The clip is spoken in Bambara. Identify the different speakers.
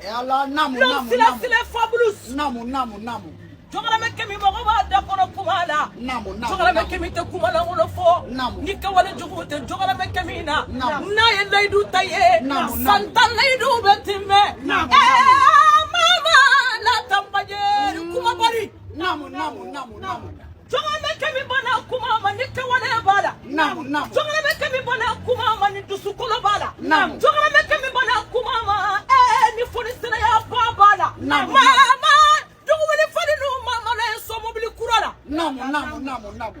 Speaker 1: E ala
Speaker 2: namu namu sila sila
Speaker 1: fabulous namu namu
Speaker 2: namu jɔgɔramɛ
Speaker 1: kɛmi mɔgɔ b'a da kɔnɔ kuma la jɔgɔramɛ
Speaker 2: kɛmi tɛ
Speaker 1: kuma lankolon fɔ ni kɛwale
Speaker 2: jugu
Speaker 1: tɛ jɔgɔramɛ kɛmi na n'a ye
Speaker 2: layidu
Speaker 1: ta ye san tan layidu bɛ tiimɛ ɛɛ mama la tanbajɛ kumabali namu namu namu namu jɔgɔramɛ kɛmi ba na kuma ma ni kɛwale b'a la namu namu jɔgɔramɛ
Speaker 2: kɛmi ba
Speaker 1: na kuma ma ni dusukolo b'a la namu jɔgɔramɛ kɛmi ba na kuma ma ɛɛ ni fonisireya ba b'a la namu mama dugubili fɔli n'u ma malo ye somobili
Speaker 2: kura la namu namu namu namu